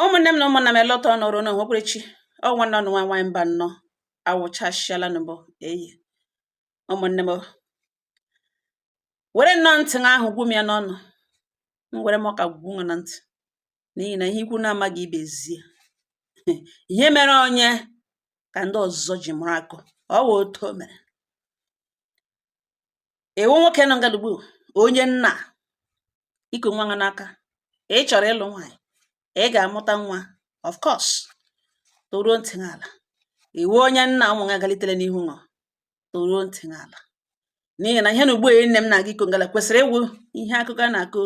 ụmụnne m na ụmụnna m elọta ọnụ ọrụ na onwekwere chi ọ nwanne ụnụ nwa nwaanyị mbanọ awụchasịala n'ọgbọ ehee ụmụnne m were nnọọ ntị ahụ gwụ m ya n'ọnụ m were m ọka gwụ nwa na ntị n'ihi na ihe ikwu na-amaghị ibe zie ihe mere onye ka ndị ọzọ ji mụrụ akọ ọ wụ otu o mere ị wụ nwoke nọ ngala ugbu onye nna i ku nwa ha n'aka ị chọrọ ịlụ nwaanyị ị ga-amụta nwa of course tọrọ ntị n'ala ị wụ onye nna ụmụ ya galitere n'ihu nọ tọrọ ntị n'ala n'ihi na ihe na ugbu a nne m na-aga ịkọ ngala kwesịrị ịwụ ihe akụkọ a na-akọ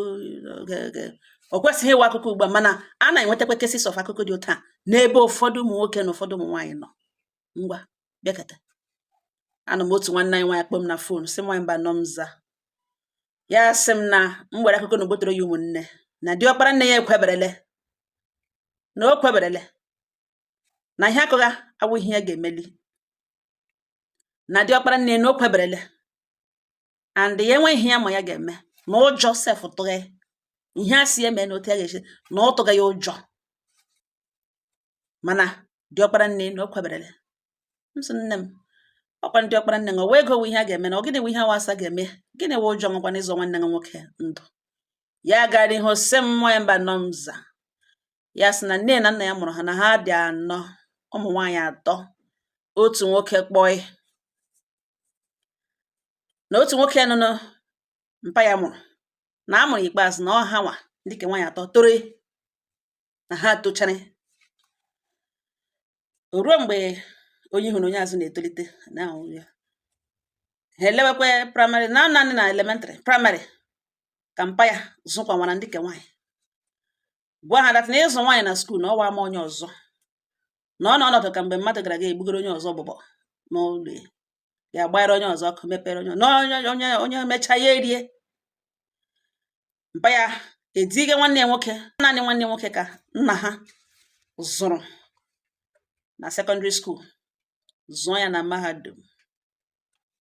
o kwesịghị ịwụ akụkọ ugbu a mana a na-enwetakwa cases of akụkọ dị otu a n'ebe ụfọdụ ụmụ nwoke na ụfọdụ ụmụ nwaanyị nọ ngwa bịakata anụ m otu nwanne anyị nwaanyị kpọọ m na fon sị nwaanyị mbanọ m za ya sị m na nwere akụkọ na ogbotoro ya ụmụnne na diọkpara nne ya ekweberele na o kweberele na ihe a kọgha awụghị ihe ya ga-emeli na diọkpara nne na o kweberele and ya enweghị ihe ya ma ya ga-eme na ụjọ sef tụghe ihe a si eme na otu ya ga-esi na ọ tụgha ya ụjọ mana diọkpara nne na o kweberele m sị nne m ọ kwa diọkpara nne nwe ego ihe a ga-eme na ọ gịnị wụ ihe a wụ a sị a ga-eme gịnị wụ ụjọ nwekwa n'ịzọ nwanne gị nwoke ndụ ya gara ihe ọ sị m nwaanyị mbanọ m za ya sị na nne na nna ya mụrụ ha na ha dị anọ ụmụ nwaanyị atọ otu nwoke kpọị na otu nwoke nọ na mpa ya mụrụ na a mụrụ ikpeazụ na ọ ha nwa ndị ke nwaanyị atọ tọrọ na ha tochara o ruo mgbe onye ihu na onye azụ na-etolite na ahụ ya ha elewekwa praịmarị na nanị na elementrị praịmarị ka mpa ya zụkwanwara ndị ke nwaanyị gwa ha that na ịzụ nwaanyị na skuul na ọ wụ ama onye ọzọ na ọ na ọnọdụ ka mgbe mmadụ gara ga egbugoro onye ọzọ mbubo n'ụlọ ya ya gbara onye ọzọ ọkụ mepere onye onye onye mechaa ya erie mpa ya ediga nwanne ya nwoke naanị nwanne nwoke ka nna ha zụrụ na sekọndịrị skuul zụọ ya na mahadum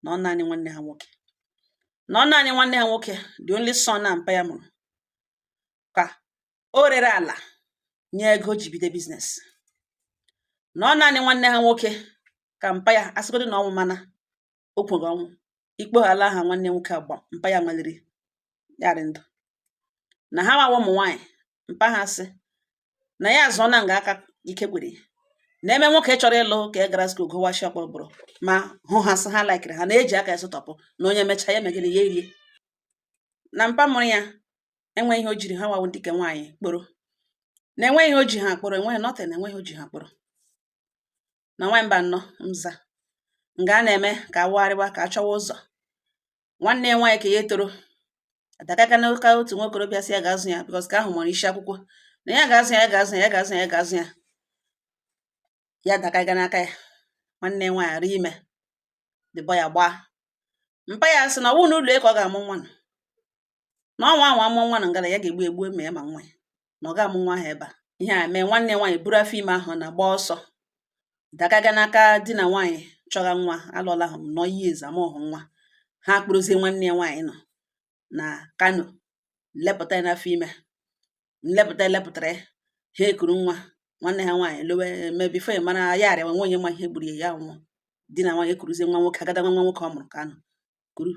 na ọ naanị nwanne ha nwoke na ọ naanị nwanne ha nwoke the only son na mpa ya mụrụ ka o rere ala nye ego ji bido biznes na ọ naanị nwanne ha nwoke ka mpa ya asịgodo na ọnwụ mana o kwere ọnwụ ikpoghala aha nwanne nwoke agba mpa ya maliri yarị ndụ na ha nwa wụ ụmụ nwaanyị mpa ha sị na ya azụọ na nga aka ike kwere ya na eme nwoke chọrọ ịlụ ka e gara skul gụwa shọp bụrụ ma hụ ha sị ha laikiri ha na-eji aka esụtọpụ na onye mechaa ya megide ya erie na mpa mụrụ ya enweghị ihe o jiri ha nwa wụ ndị ke nwaanyị kpọrọ na enweghị ihe o ji ha kpọrọ enweghị nọtịn enweghị o ji ha kpọrọ na nwaanyị mba nnọ nza nga a na-eme ka a wagharịwa ka a chọwa ụzọ nwanne ya nwaanyị ke ya toro adagaga n'aka otu nwa okorobịa sị ya ga-azụ ya bikọs ke ahụ maara isi akwụkwọ na ya ga-azụ ya ya ga-azụ ya ya ga-azụ ya ya ga-azụ ya ya dagaga n'aka ya nwanne ya nwaanyị arị ime dịbọ ya gbaa mpa ya sị na ọ wụ n'ụlọ ya ka ọ ga-amụ nwa na ọ nwaa anwa mụọ nwa nụ nga a ya ga-egbu egbu ma ya ma nwa ya na ọ ga-amụ nwa ahụ ebe a ihe a mee nwanne nwaanyị buru afọ ime ahụ na gbaa ọsọ dagaga n'aka di na nwaanyị chọga nwa alụọla ahụ nọ ihe ezamọhụ nwa ha kpụrụzie nwanne ya nwaanyị nọ na Kano lepụta ya n'afọ ime nlepụta elepụtara ya ha ekuru nwa nwanne ha nwaanyị lowe ma before ya mara ya arịa enwe onye ma ihe gburu ya ya nwụọ di na nwaanyị ekuruzie nwa nwoke agada nwa nwa nwoke ọ mụrụ Kano kuru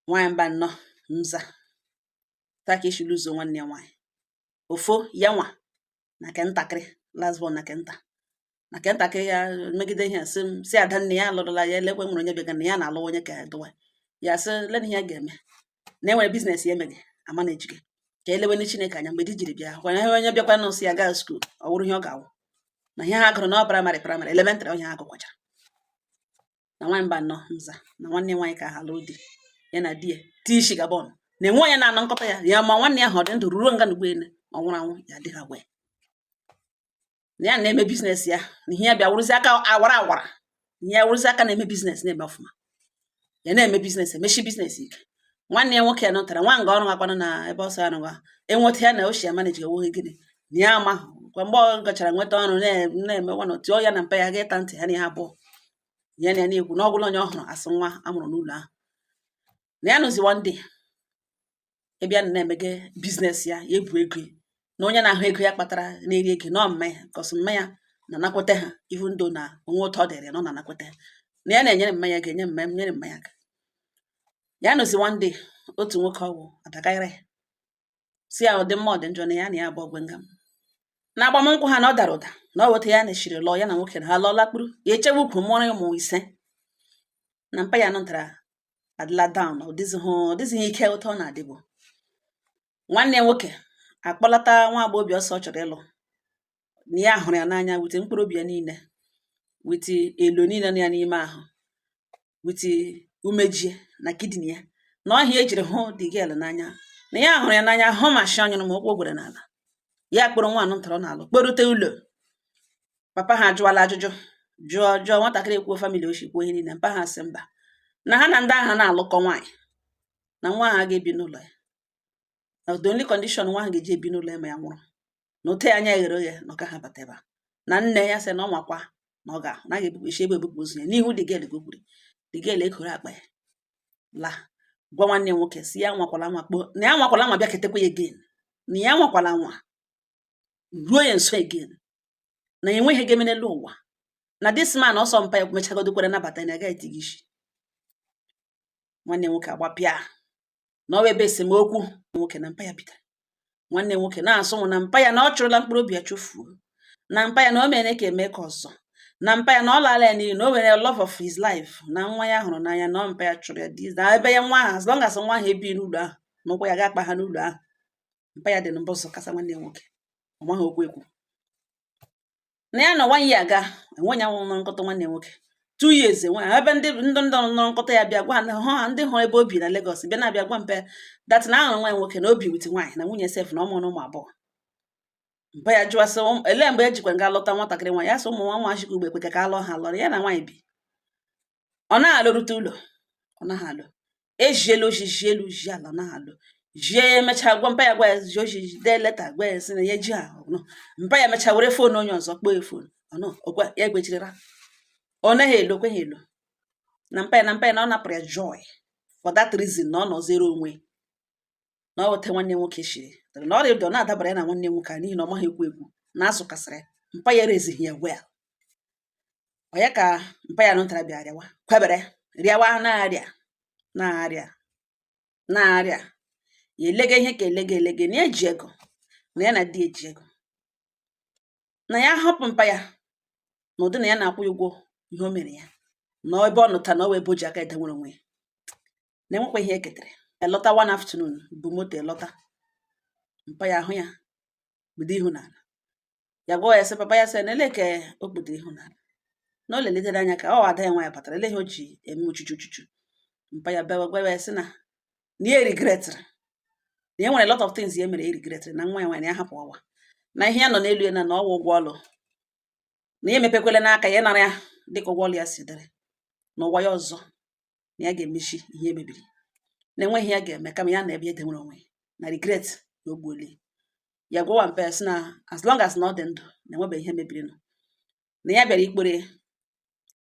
nwaanyị mba nnọ nza taa ka echiri ụzọ nwanne ya nwaanyị ọ fọ ya nwa na nke ntakịrị last born na nke nta na nke ntakịrị ya megide ihe sị m si ada nne ya alụrụla ya elekwe nwere onye bịaga na ya na-alụ onye ka dụwa ya sị lena ihe ya ga-eme na enwere biznes ya emeghị ama na ejike ka elewe Chineke anya mgbe di jiri bịa hụkwa na ihe onye bịakwa nọ sị ya gaa skuul ọ wụrụ ihe ọ ga-awụ na ihe ha gụrụ na ọ praịmarị praịmarị elementrị onye ha gụkwachara na nwaanyị mba nnọ nza na nwanne nwaanyị ke ahụ lụọ di ya na di ya tii ishi Gabon na enwe onye na-anụ nkọta ya ya ma nwanne ya ha ọ dị ndụ ruo nga n'ugbu ene ọ nwụrụ anwụ ya dịghị agwa ya na ya na-eme biznes ya na ihe ya bịa wụrụzi aka awara awara ihe ya wụrụzi aka na-eme biznes na-eme ọfụma ya na-eme biznes emechi biznes ike nwanne ya nwoke nụtara nwaga ọrụ akwanụ na ebe ọsọ ya nụwa enweta ya na ochie manage ewughị gịnị na ya amahụ kwa mgbe ọ gachara nweta ọrụ na-eme nwa na tụọ ya na mpa ya ga ịta ntị ha na ihe abụọ ya na ya na-ekwu na ọgwụla onye ọ hụrụ a sị nwa a mụrụ n'ụlọ ahụ na ya nọzi one day ịbịa na na-emege biznes ya ya ebu ego na onye na-ahụ ego ya kpatara na-eri ego na ọ mma ya ka ọ sọ mma ya na-anakwete ha even though na o nwe otu ọ dịrị na ọ na-anakwete na ya na-enyere mma ya ga-enye mma nyere mma ya ya nọzi one day otu nwoke ọ wụ adagara ya sị ya ọ dị mma ọ dị njọ na ya na ya abụọ ọgwe nga m na agbamnkwụ ha na ọ dara ụda na ọ weta ya na echiri lụọ ya na nwoke na ha lụọla kpuru ya echewe ukwu mụọrọ ya ụmụ ise na mpa ya nụtara adịla down ọ dịzighị ọ dịzighị ike otu ọ na-adịbu nwanne ya nwoke akpọlata nwa agbọghọbịa ọ sị ọ chọrọ ịlụ na ya hụrụ ya n'anya with mkpụrụ obi ya niile with elo niile nọ ya n'ime ahụ with umeji ya na kidney ya na ọ ihe ya jiri hụ the girl n'anya na ya hụrụ ya n'anya hụ ma nshị ọ nyụrụ ma ụkwụ gwere n'ala ya kpọrọ nwaanyị ntọrọ n'ala kpọrute ụlọ papa ha ajụwala ajụjụ jụọ jụọ nwatakịrị ekwuo family o shi kwuo ihe niile mpa ha sị mba na ha na ndị ahụ anaghị alụkọ nwaanyị na nwa ahụ agaghị ebi n'ụlọ ya na the only condition nwa ahụ ga-eji ebi n'ụlọ ya ma ya nwụrụ na ote anya ya ghere oghe na ọ gaghị abata ebe a na nne ya sị na ọ makwa na ọ ga-ahụ na a ga-ebupụ isi ebe ebupụ ozu ya n'ihu the girl ka o kwuru the girl ekoro akpa ya laa gwa nwanne ya nwoke sị ya anwakwala anwa kpọọ na ya anwakwala anwa bịaketekwa ya again na ya anwakwala anwa ruo ya nso again na ya enweghị ihe ga-eme n'elu ụwa na this man ọsọ mpa ya mechagodo kwere nabata na agaghị etighi isi nwanne nwoke agbapịa na ọ ebe esemokwu nwoke na mpa ya bidoro nwanne nwoke na-asị na mpa ya na ọ chụrụla mkpụrụ obi ya chụfuo na mpa ya na o mere ka eme ka ọzọ na mpa ya na ọ laala ya n'iyi na o nwere love of his life na nwa ya hụrụ n'anya na mpa ya chụrụ ya di na ebe ya nwa ahụ as long as nwa ahụ ebighị n'ụlọ ahụ na ụkwụ ya ga-akpaha n'ụlọ ahụ mpa ya dị na mbọsọ kasa nwanne ya nwoke ọ maghị okwu ekwu na ya na nwaanyị aga enwe ya nwụrụ nkọta nwanne nwoke two years enwe ebe ndị ndụ ndụ nọrọ nkọta ya bịa gwa ha hụ ha ndị hụrụ ebe o bi na Lagos bịa na-abịa gwa mpa ya that na a hụrụ nwa gị nwoke na o bi with nwaanyị na nwunye sef na ụmụ na ụmụ abụọ mpa ya jụwa sị elee mgbe e jikwa gaa lụta nwatakịrị nwaanyị a sị ụmụ nwa nwa chikwa ugbe kweke ka a lụọ ha lọrọ ya na nwaanyị bi ọ naghị alọrute ụlọ ọ naghị alọ ezie ya ozi zie elu zie ala ọ naghị alọ zie ya emechaa gwa mpa ya gwa ya zie ozi dee leta gwa ya sị na ya ji ahụ nọ mpa ya mechaa were foonu onye ọzọ kpọọ ya foonu ọnụ ọ gwa ya gwechirira ọ naghị elo kweghị elo na mpa ya na mpa ya na ọ napụrụ ya joy for that reason na ọ nọzere onwe na ọ weta nwanne nwoke chiri na ọ rịdọ na-adabara ya na nwanne nwoke a n'ihi na ọ maghị okwu ekwu na-asụ ka a sịrị mpa ya raiseghị ya well ọ ya ka mpa ya nụtara bịa rịawa kwebere rịawa na-arịa na-arịa na-arịa ya elege ihe ka elege elege na eji ego na ya anadị eji ego na ya hapụ mpa ya na ụdị na ya na-akwụ ya ụgwọ ihe o mere ya na ebe ọ nụta na ọ wee boji aka ede nwere onwe ya na enwekwa ihe eketere elọta one afternoon bu moto lọta mpa ya ahụ ya kpudo ihu n'ala ya gwa ya sị papa ya sị na elee ka o kpudoro ihu n'ala na o lelitere anya ka ọ ada ya nwaanyị batara elee ihe o ji eme uchuchu uchuchu mpa ya bịawa gwa ya sị na na ya regretịrị na e nwere lot of things ya mere ya regretịrị na nwa ya nwaanyị ya hapụ ụwa na ihe ya nọ n'elu ya na na ọ wụ ụgwọ ọlụ na ya emepekwele aka ya nara ya dịka ụgwọ ọlụ ya si dịrị n'ụwa ya ọzọ na ya ga-emezi ihe mebiri na enweghị ya ga-eme kama ya na ebe ede nwere onwe na regret na ogbuoli ya gwawa mpa ya sị na as long as na ọ dị ndụ na enwebeghị ihe mebirinụ na ya bịara ikpere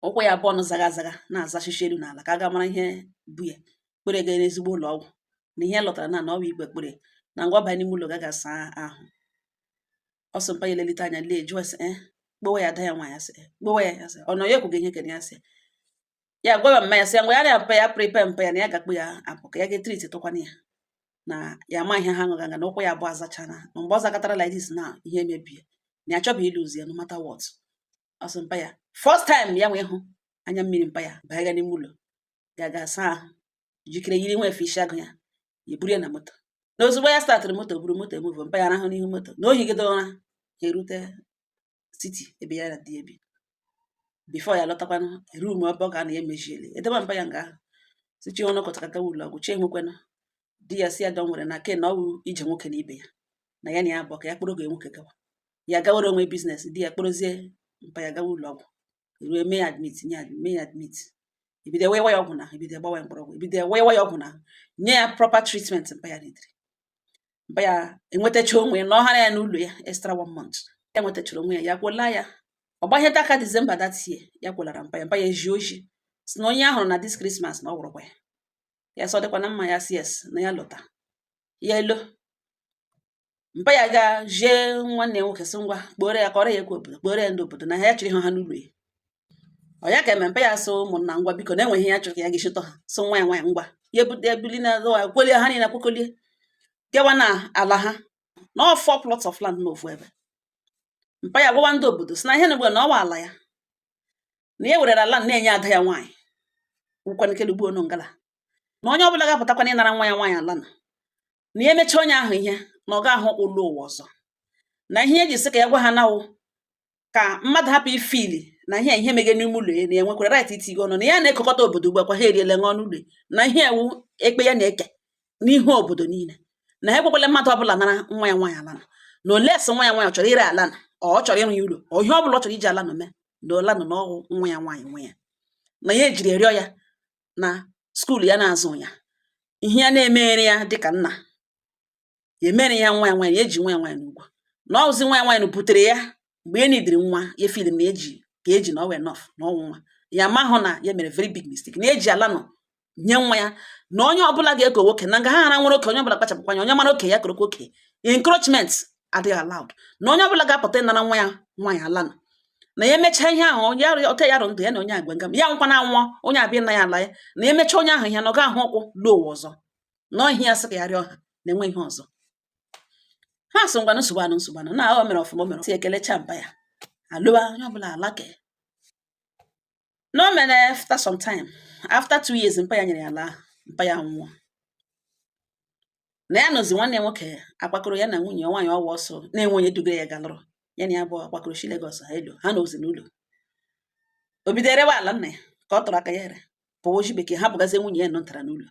ụkwụ ya abụọ nụ zaga azaga na-azachichi elu n'ala ka a ga mara ihe bụ ya kpere ga n'ezigbo ụlọ ọgwụ na ihe lọtara na na ọ bụ ikpe kpere na ngwa banye n'ime ụlọ ga ga saa ahụ ọ sị mpa ya elelite anya lee jụọ sị eh, kpọwa ya ada ya nwa ya sị eh, kpọwa ya ya sị ọ nọ ya ekwughị ihe kere ya sị ya gwara mma ya sị ya ngwa ya na-apụ ya prepare mpa ya na ya ga-akpụ ya apụ ka ya ga-etriti tụkwana ya na ya ama ihe ha ṅụga nga na ụkwụ ya abụọ azachana na mgbe ọ zakọtara like this na ihe emebie na ya achọghị iluzi ya no matter what ọ sị mpa ya first time ya wee hụ anya mmiri mpa ya banye ya n'ime ụlọ ya ga asa ahụ jikere yiri nwa efe isi agụ ya ya eburu ya na moto na ozugbo ya startịrị moto buru moto emuvo mpa ya rahụ n'ihu moto na o higide ụra ha erute city ebe ya na di ebi before ya lọtakwanụ room ebe ọ ga-anọ ya emeziele edebe mpa ya nga ahụ si chi ọnụ kọtakata ụlọ ọgwụ chi enwekwanụ di ya sị ya don't worry na ke na ọ wụ ije nwoke na ibe ya na ya na ya abụọ ka ya kpụrụ ọgọ nwoke gawa ya gawara onwe business di ya kpụrụzie mpa ya gawa ụlọ ọgwụ ruo mee ya admit nye ya mee ya admit ebido wewa ya ọgwụ na ebido gbawa ya mkpụrụ ọgwụ ebido wewa ya ọgwụ na nye ya proper treatment mpa ya ridiri mpa ya enwetacha onwe ya na ọ hara ya n'ụlọ ya extra one month ya nwetachara onwe ya ya kpọla ya ọ gbahie aka December that year ya kpọlara mpa ya mpa ya eji oji sị na onye a hụrụ na this Christmas na ọ wụrụkwa ya ya sị ọ dịkwa na mma ya sị yes na ya lọta ya elo mpa ya ga jee nwanne ya nwoke sị ngwa kpọọrọ ya kụọrọ ya ekwe obodo kpọọrọ ya ndị obodo na ha ya chịrị ha ha n'ụlọ ya ọ ya ka eme mpa ya sị ụmụnna ngwa biko na e nwe ihe ya chọrọ ka ya ga-echịtọ ha sị nwa ya nwaanyị ngwa ya ebute ebili na ya kwelie ha niile kwekwelie gawa na ala ha na ọ four plots of land n'ofu ebe mpa ya gwawa ndị obodo sị na ihe na ugbe na ọ wụ ala ya na ya werere ala na-enye ada ya nwaanyị wụkwanekele ugbo onu ngala na onye ọbụla ga-apụtakwana ịnara nwa ya nwaanyị ala na na ya emechaa onye ahụ ihe na ọ gaghị ịlọ ụwa ọzọ na ihe e ji sị ka ya gwa ha na ọ wụ ka mmadụ hapụ ifili na ihe ihe mega n'ime ụlọ ya na ya nwekwara right itinye ọnụ na ya na-ekukọta obodo ugbu akwa ha eriele nwa ọnụ ụlọ na ihe a wụ ekpe ya na-eke n'ihu obodo niile na ha ekwekwala mmadụ ọbụla nara nwa ya nwaanyị ala na na unless nwa ya nwaanyị chọrọ ire ala na ọ chọrọ ịrụ ya ụlọ ọ ihe ọbụla ọ chọrọ iji ala na mee na ala na na ọ wụ nwa ya nwaanyị nwe ya na ya ejiri rịọ ya na skuul ya na-azụ ya ihe ya na-emere ya dịka nna ya emere ya nwa ya nwaanyị eji nwa ya nwaanyị ụgwọ na ọzi nwa ya nwaanyị butere ya mgbe ya nidiri nwa ya feel na eji ka eji na ọwa enough na ọnwụ nwa ya ma hụ na ya mere very big mistake na eji ala nọ nye nwa ya na onye ọbụla ga-eko nwoke na nga ha hara nwere oke onye ọbụla kpachapụkwa anya onye mara oke ya korokwa oke encroachment adịghị allowed na onye ọbụla ga-apụta ịnara nwa ya nwa ya ala nọ na ya emechaa ihe ahụ ya rịọ ọka ya rụ ndụ ya na onye agwa nga ya nkwa na anwụọ onye abịa na ya ala ya na ya emechaa onye ahụ ihe na ọ ga-ahụ ọkwụ lọọ ụwa ọzọ na ọ ihe ya sị ka ya rịọ ha na-enwe ihe ọzọ ha sị ngwanụ nsogbu anụ nsogbu anụ na o mere ọfụma o mere si ekelecha mpa ya alụwa onye ọbụla alake na o mere after some time after two years mpa ya nyere ya ala mpa ya nwụọ na ya nọzi nwanne ya nwoke akwakọrọ ya na nwunye nwaanyị ọwa ọsọ na-enwe onye dugara ya galụrụ ya na ya bụ akwakọrọ si Lagos ha elu ha anọzi n'ụlọ o bido erewe ala nna ya ka ọ tụrụ aka ya ere pụọ o ji bekee hapụgazie nwunye ya nọ ntara n'ụlọ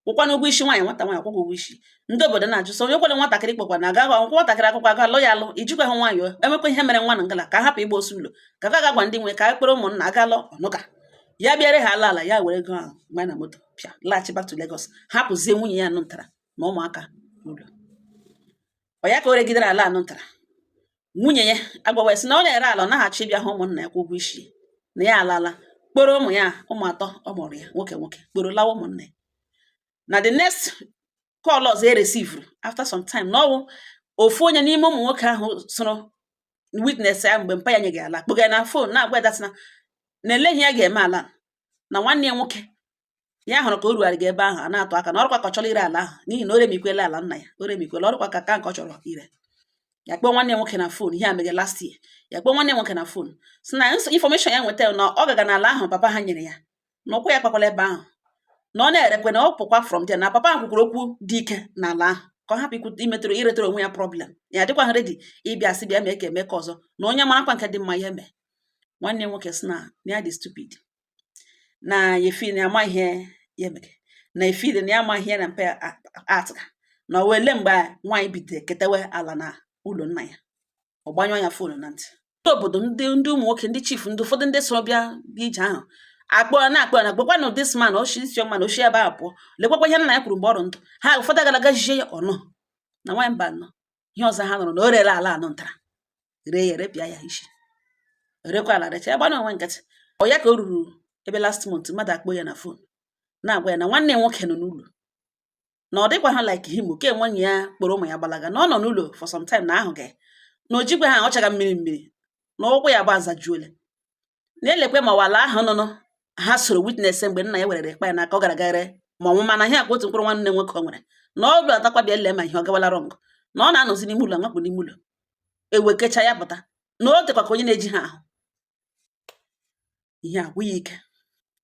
kwụkwana ụgwọ isi nwaanyị nwata nwaanyị kwụkwọ ụgwọ isi ndị obodo na-ajụ sị onye kwere nwatakịrị kpọkwa na agaghị akwụkwọ nwatakịrị akwụkwọ aga alụ ya alụ ijikwa ha nwaanyị emekwa ihe mere nwa na ngala ka hapụ ịgba osu ụlọ ka ga agwa ndị nwe ka a kpọrọ ụmụnna aga alụ ọnụka ya bịara ha ala ala ya were ego ahụ gba na moto pịa laghachi back to Lagos hapụzie nwunye ya nụ ntara na ụmụaka ụlọ ọ ya ka o regidere ala anụ ntara nwunye ya agwawa si na ọ na-ere ala ọ naghachị ịbịa hụ ụmụnna ya kwa ụgwọ isi na ya alala kpọrọ ụmụ ya ụmụ atọ ọ mụrụ ya nwoke nwoke kpọrọ lawa ụmụnna ya na the next call ọzọ e resivuru after some time na ọ wụ ofu onye n'ime ụmụ nwoke ahụ soro witness ya mgbe mpa ya nyeghe ala kpọga na fon na-agwa ya na na elee ihe ya ga-eme ala na nwanne ya nwoke ya hụrụ ka o rugharị gị ebe ahụ a na-atụ aka na ọ rụkwa ka ọ chọrọ ire ala ahụ n'ihi na o remikwela ala nna ya o remikwela ọ rụkwa ka ka nke ọ chọrọ ire ya kpọọ nwanne nwoke na fon ihe a mere last year ya kpọọ nwanne nwoke na fon si na infọmeshọn ya nweta na ọ gaga n'ala ahụ papa ha nyere ya na ụkwụ ya kpakwala ebe ahụ na ọ na-erekwe na ọ pụkwa from there na papa ahụ kwukwuru okwu dị ike n'ala ahụ ka ọ hapụ ikwu imetụrụ iretara onwe ya problem ya adịkwaha ready ịbịa sị bịa mee ka eme ka ọzọ na onye marakwa nke dị mma ya mee nwanne nwoke si na ya dị stupid na ya feel na ama ihe ya mere na-efeel na ya ama ihe na mpe atụga na ọ wụ elee mgbe nwaanyị bidoro ketewe ala na ụlọ nna ya ọ gbanyụọ ya fon na ntị ndị obodo ndị ndị ụmụ nwoke ndị chief ndị ụfọdụ ndị soro bịa bịa ije ahụ akpọ na akpọ na gbakwa na this man o shi isi ọma na o shi ebe a pụọ lekwakwa ihe nna ya kwuru mgbe ọ rụ ndụ ha ụfọdụ gara aga jie ya ọnụ na nwaanyị mba nụ ihe ọzọ ha nụrụ na o rere ala anụ ntara ree ya repịa ya isi rekwa ala recha ya gbana onwe nkịtị ọ ya ka o ruru ebe last month mmadụ akpọ ya na fon na-agwa ya na nwanne ya nwoke nọ n'ụlọ na ọ dịkwaha like him ke nwunye ya kpọrọ ụmụ ya gbalaga na ọ nọ n'ụlọ for some time na ahụ ga na o jikwaha ọ chaga mmiri mmiri na ụkwụ ya bụ azajuole na-elekwe ma ọ wụ ala ahụ nụnụ ha soro witness mgbe nna ya werere ekpe ya n'aka ọ gara gaghere ma ọnwụ mana ihe akwa otu mkpụrụ nwanne nwoke ọ nwere na ọ bụla atakwa bịa lee ma ihe ọ gawala wrong na ọ na-anọzi n'ime ụlọ nwakpụ n'ime ụlọ ewekecha ya pụta na o tekwa ka onye na-ejighị ahụ ihe agwụ ya ike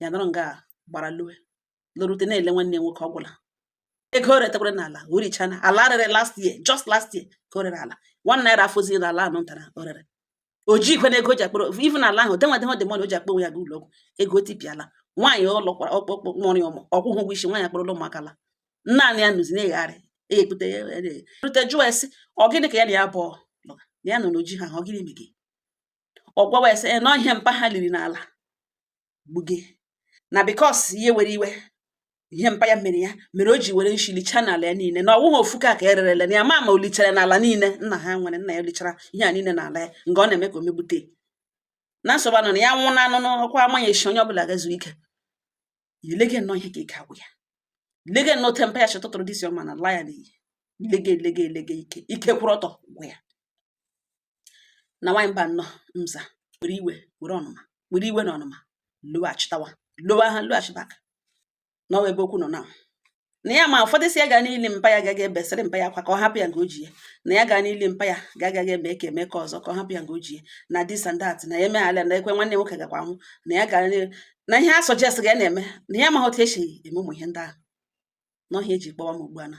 ya nọrọ nga gbara loo lorute na-ele nwanne nwoke ọ gwụla ego o retakwara n'ala o richana ala rere last year just last year ka o rere ala one naira afọzi na ala anọ ntara o rere o ji ikwe na ego ji akpọrọ even ala ahụ denwa denwa demon o ji akpọ onwe ya ga ụlọ ọgwụ ego tipiala nwaanyị ọ lụkwara ọkpọkpọ mụrụ ya ụmụ ọ kwụghị ụgwọ isi nwaanyị akpọrọla ụmụaka laa naanị ya nọzi na-egharị e kpute ya rute jụọ sị ọ gịnị ka ya na ya bụ na ya nọ na o jighị ahụ ọ gịnị mege ọ gwawa a sị na ọ ihe mpa ha liri n'ala gbuge na because ya were iwe ihe mpa ya mere ya mere o ji were nshi lichaa n'ala ya niile na ọ wụghị ofu ka ka e rerele na ya ma ma o lichara n'ala niile nna ha nwere nna ya o lichara ihe a niile n'ala ya nke ọ na-eme ka o megbute na nsogbu a nọ na ya nwụ na anụ n'ọkwa amaghị echi onye ọbụla gaa zuo ike ilege nnọọ ihe ka ike agwụ ya lege nnọọ ihe mpa ya chọtụtụrụ dị isi ọma na-ala ya n'iyi lege lege lege ike ike kwụrụ ọtọ gwụ ya na nwaanyị mba nnọọ mza were iwe were ọnụma were iwe na ọnụma loghachitawa lowa ha loghachi back na ọ wụ ebe okwu nọ na na ya ma ụfọdụ sị ya gaa n'ili mpa ya gaga ebesịrị mpa ya akwa ka ọ hapụ ya nke o ji ya na ya gaa n'ili mpa ya gaga eme ka eme ka ọzọ ka ọ hapụ ya nke o ji ya na this and that na ya emeghala na ekwe nwanne nwoke gakwa anwụ na ya gara na ihe a suggest ga ya na-eme na ya amaghị otu esi eme ụmụ ihe ndị ahụ na ọ ihe e ji kpọwa m ugbu a na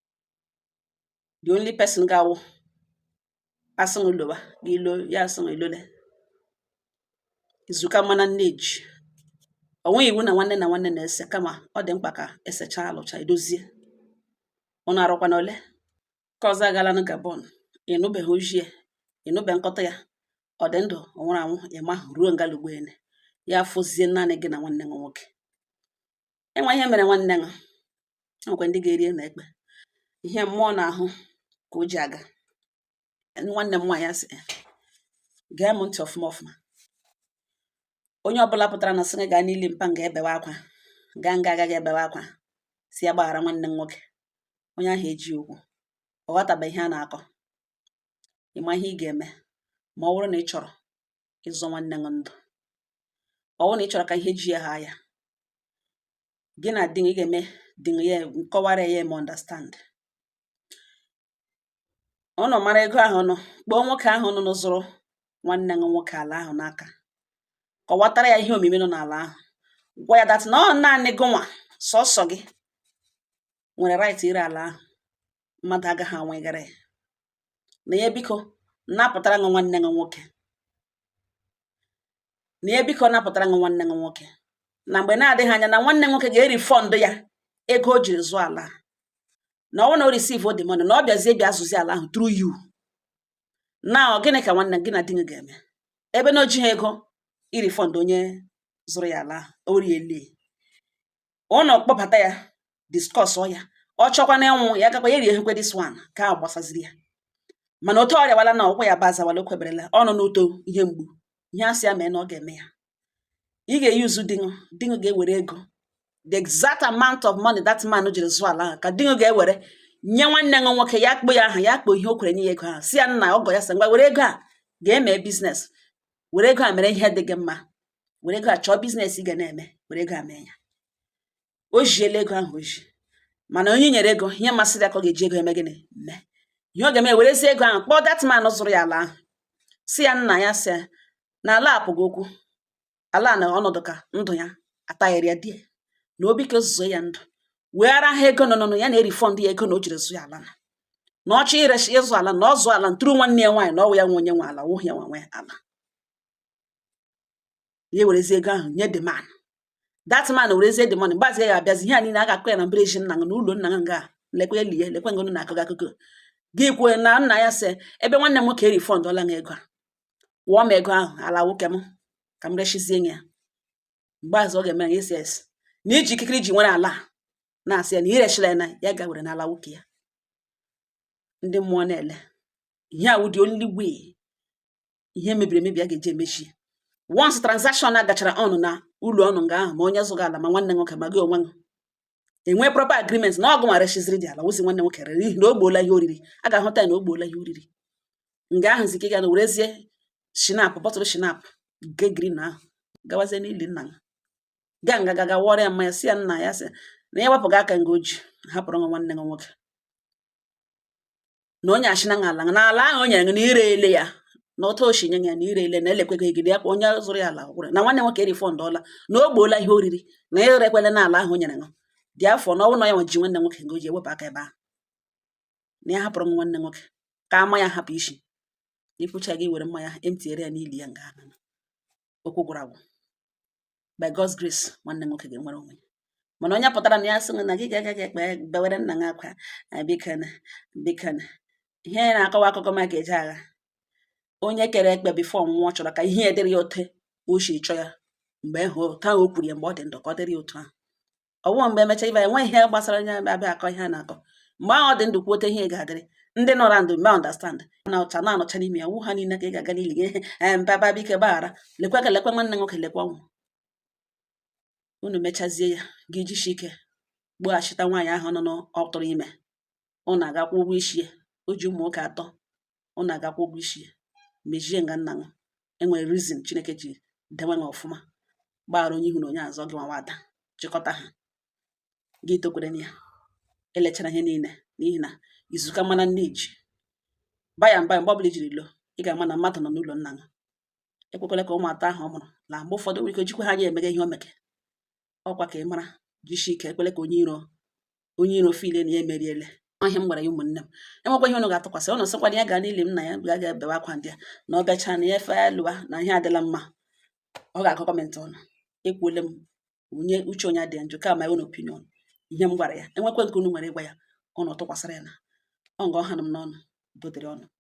the only person ga-awụ a sị m loba gị ilo ya a sị m elole izu ụka mana nne ji o nweghị iwu na nwanne na nwanne na-ese kama ọ dị mkpa ka e sechaa a lụcha e dozie ụnụ arụkwana ole ka ọzọ agalanụ gabon ị nụbeghị ozi ya ị nụbe nkọta ya ọ dị ndụ ọ nwụrụ anwụ ị ma ruo nga ugbu a nị ya afọzie naanị gị na nwanne gị nwoke e nwee ihe mere nwanne gị e nwekwa ndị ga-eri ụnụ ekpe ihe mmụọ na-ahụ ka o ji aga nwanne m nwaanyị a sị gee m ntị ọfụma ọfụma onye ọbụla pụtara na sị gị gaa n'ili mpa ụnụ ga ebewe akwa gaa nga a gaga ebewe akwa sị ya gbaghara nwanne m nwoke onye ahụ eji okwu ọ ghọtabeghị ihe a na-akọ ị ma ihe ị ga-eme ma ọ bụrụ na ị chọrọ ịzọ nwanne gị ndụ ọ bụrụ na ị chọrọ ka ihe ji ya haa ya gị na di gị ga-eme di gị ya nkọwara ya ọ ma understand ụnụ mara ego ahụ nụ kpọọ nwoke ahụ nụ zụrụ nwanne gị nwoke ala ahụ n'aka kọwatara ya ihe omimi nọ n'ala ahụ gwa ya that na ọ naanị gị nwa sọsọ gị nwere right ire ala ahụ mmadụ agaghị anwegara ya na ya biko napụtara gị nwanne gị nwoke na ya biko napụtara gị nwanne gị nwoke na mgbe na-adịghị anya na nwanne nwoke ga-erefund ya ego o jiri zụọ ala na ọ wụ na o receive the money na ọ bịazie bịa zụzi ala ahụ through you na ọ gịnị ka nwanne gị na di gị ga-eme ebe na o jighị ego irefund onye zụrụ ya ala ahụ o riele unu kpọbata ya discuss ọ ya ọ chọkwa na ịnwụ ya gakwa ya rie hekwe this one ka a gbasaziri ya mana otu ọ rịawala na ụkwụ ya bụ azawala o kweberela ọ nọ n'uto ihe mgbu ihe a sị ya mee na ọ ga-eme ya ị ga-eyuzu di ṅụ di ṅụ ga-ewere ego the exact amount of money that man jiri zụọ ala ahụ ka di ṅụ ga-ewere nye nwanne ṅụ nwoke ya kpọ ya aha ya kpọ ihe o kwere nye ya ego ahụ sị ya nna ọgọ ya sị ngwa were ego a ga-eme business were ego a mere ihe dị gị mma were ego a chọọ business ị ga na-eme were ego a mee ya o jiela ego ahụ o ji mana onye e nyere ego ihe masịrị ya ka ọ ga-eji ego eme gịnị mee ihe ọ ga-eme werezi ego ahụ kpọọ that man zụrụ ya ala ahụ sị ya nna ya sị ya na ala apụghị okwu ala na ọnọdụ ka ndụ ya ataghịrị ya di ya na obi ka ozuzo ya ndụ wee ara ha ego nọnụnụ ya na-erefund ya ego na o jiri zụ ya ala na na ọ chọọ irechi ịzụ ala na ọ zụọ ala through nwanne ya nwaanyị na ọ wụ ya nwe onye nwe ala wụhụ ya nwe ala ya werezi ego ahụ nye the man that man werezie the money mgbe ahụzi ya abịazi ihe a niile a ga-akọ ya na mbara ezi nna gị na ụlọ nna gị nga lekwe ya lie lekwe nga unu na-akọ akụkọ gị kwuo na nna ya sị ebe nwanne m nwoke erefundọla m ego akwụọ m ego ahụ ala nwoke m ka m rechizie ya mgbe ahụzi ọ ga-eme ya esi esi na iji ikikere i ji nwere ala na-asị ya na i rechila ya na ya ga were n'ala nwoke ya ndị mmụọ na-ele ihe a wụ the only way ihe mebiri emebi a ga-eji emechi once transaction a gachara unu na ụlọ unu nga ahụ ma onye zụga ala ma nwanne nwoke ma gị onwe gị enwee proper agreement na ọ gị nwa rechiziri dị ala wụzi nwanne nwoke rere n'ihi na ọ gbọọla ihe o riri a ga-ahụta ya na ọ gbọọla ihe o riri nga ahụzi ka ị ga-ewerezie schnapps bottle schnapps nke green ahụ gawazie n'ili nna ya gaa nga gaa wụọrọ ya mmanya sị ya nna ya sị na ya wepụga aka nga o ji hapụrụ ṅụ nwanne ṅụ nwoke na onye achị na ala na ala ahụ o nyere gị na i reele ya na otu o si nye ya na i reele na elekweghị gị ya kwa onye zụrụ ya ala gwụrụ na nwanne nwoke erefundọla na ọ gbọọla ihe o riri na i rekwele na ala ahụ o nyere gị therefore na ọ wụ na ya nwa ji nwanne nwoke nga o ji ewepụ aka ebe ahụ na ya hapụrụ m nwanne nwoke ka ama ya hapụ isi i kwuchaa gị were mmanya emptyere ya n'ili ya nga ahụ okwu gwụrụ agwụ by God's grace nwanne nwoke ga-enwere onwe ya mana onye pụtara na ya sị na gị ga-aga gị ekpe bewere nna gị akwa bikana bikana ihe na-akọwa akụkọ maka eje agha onye kere ekpe before ọ nwụọ ọ chọrọ ka ihe dịrị ya ote o si chọọ ya mgbe ahụ ka o kwuru ya mgbe ọ dị ndụ ka ọ dịrị ya otu ahụ ọwụ mgbe emecha ibe enwe ihe gbasara onye abịa akọ ihe a na-akọ mgbe ahụ ọ dị ndụ kwuote ihe ga-adịrị ndị nọrọ ndụ mee understand na ụcha na anọcha n'ime ya wụ ha niile ka ị ga-aga n'ili gị ee mba mba biko gbaghara lekwa ka lekwa nwanne nwoke lekwa ọnwụ unu mechazie ya gị jishi ike gbughachita nwaanyị ahụ nọ n'ọtụrụ ime ụnụ aga-akwụ ụgwọ isi ya o ji ụmụ nwoke atọ ụnụ aga-akwụ ụgwọ isi ya mejie nga nna mụ enwere reason chineke ji dewe ha ọfụma gbaghara onye ihu na onye azụ gị nwawa ada chịkọta ha gị tokwere ya elechara ihe niile n'ihi na izu ka mma na nne ji baa ya mba mgbe ọbụla ijiri loo ị ga-ama na mmadụ nọ n'ụlọ nna mụ ekwekwele ka ụmụ atọ ahụ ọ mụrụ na mgbe ụfọdụ nwere ike jikwa ha anya emege ihe o mege ọkwa ka ị mara jisi ike ekwele ka onye iro feel na ya emeriele ihe m gwara ya ụmụnne m enwekwa ihe ụnụ ga-atụkwasị ụnụ sịkwa na ya gaa n'ili m na ya ga ga ebewe akwa ndị a na ọ bịachaa na ya efe lụwa na ihe adịla mma ọ ga-akọ comment ụnụ ekwuole m onye uche onye adịghị njọ ka my own opinion ihe m gwara ya enwekwe nke unu nwere ịgwa ya unu tụkwasịrị ya na ọ nga ọ hanụ m n'ọnụ dodere ọnụ